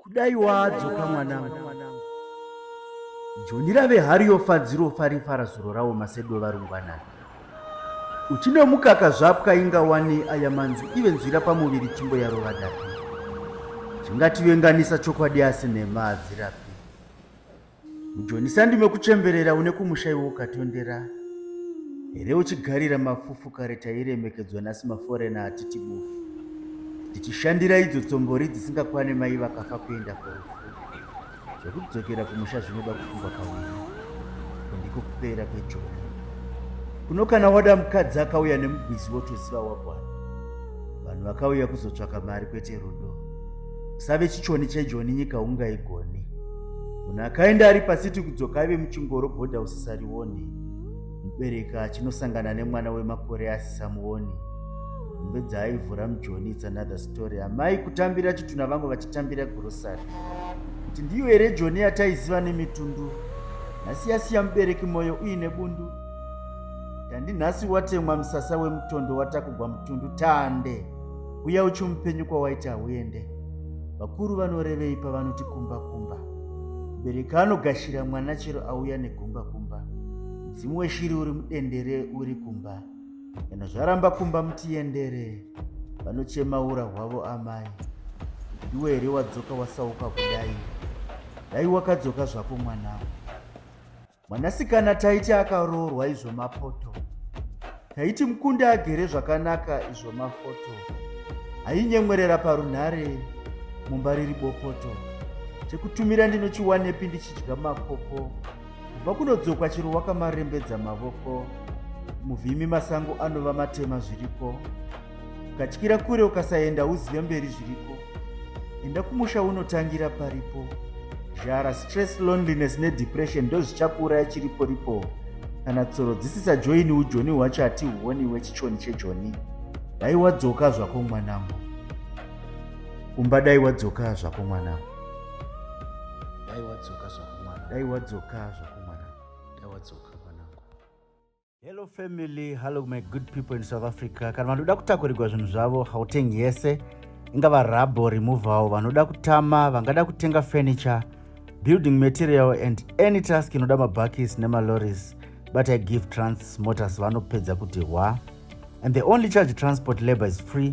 kudai waadzoka mwanangu joni rave hari yofadziro farifara zuro rawo masedo varungwanana uchinomukaka zvapwa inga wani aya manzwi ive nzwira pamuviri chimbo yarova dapi chingativenganisa chokwadi asi nhema hadzirapi Mujoni sandi mekuchemberera une kumusha iwe ukatondera here uchigarira mafufu kare tairemekedzwa nhasi maforena hatiti bufu tichishandira idzo tsombori dzisingakwane mai vakafa kuenda kurufu zvekudzokera kumusha zvinoda kufungwa kaviri kundiko kupera kwejoni kuno kana wada mukadzi akauya nemugwizi wotoziva wagwana vanhu vakauya kuzotsvaka mari kwete rudo kusave chichoni chejoni nyika ungaigoni munhu akaenda ari pasiti kudzoka aive muchingoro bhodha usisarioni mubereki achinosangana nemwana wemakore asisamuoni mbe dzaaivhura mujoni its another story amai kutambira chituna vangu vachitambira grosary kuti ndiyo here joni yataiziva nemitundu nhasi yasiya mubereki mwoyo uine bundu tandi nhasi watemwa musasa wemutondo watakugwa mutundu tande uya uchimupenyu kwawaiti hauende vakuru vanorevei pavanoti kumba kumba mubereki anogashira mwana chero auya negumba kumba mudzimu weshiri uri mudendere uri kumba kana zvaramba kumba mutiendere vanochema ura hwavo amai ndiwe here wadzoka wasauka kudai dai wakadzoka zvako mwanawo Mwanasikana taiti akaroorwa izvo mapoto. Taiti mukunde agere zvakanaka izvo mafoto. Ainyemwerera parunhare mumba riri bopoto. Chekutumira ndinochiwanepi ndichidya makoko. Kubva kunodzokwa chero wakamarembedza mavoko. Muvhimi masango anova matema zviriko. ukatyira kure ukasaenda uzive mberi zviriko enda kumusha unotangira paripo zhara stress loneliness nedepression ndozvichakuuraya chiripo ripo kana tsoro dzisisajoini ujoni hwacho hatihuoni wechichoni chejoni dai wadzoka zvako mwanangu kumba dai wadzoka zvako mwanangu dai wadzoka zvako mwanangu dai wadzoka zvako mwanangu dai wadzoka Hello family, hello my good people in South Africa. Kana vanoda kutakurirwa zvinhu zvavo hautengi yese ingava rabo removal vanoda kutama vangada kutenga furniture building material and any task inoda mabhakis nemaloris but i give trans motors vanopedza kuti hwa and the only charge transport labor is free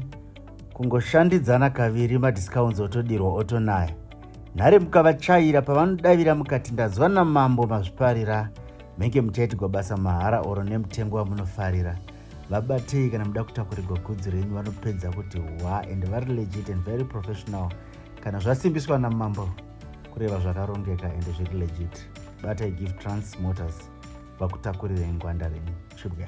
kungoshandidzana kaviri madiscounts otodirwa otonaya nhare mukavachaira pavanodavira mukati ndanzwa namambo mazviparira Menge muchaitigwa basa mahara oro nemutengo wamunofarira. Vabatei kana muda kutakurirwa gudzi renyu vanopedza kuti hwa and vari legit and very professional. Kana zvasimbiswa namambo kureva zvakarongeka and zviri legit. Batai Give Trans Motors vakutakurirei ngwanda renyu. Chibwa.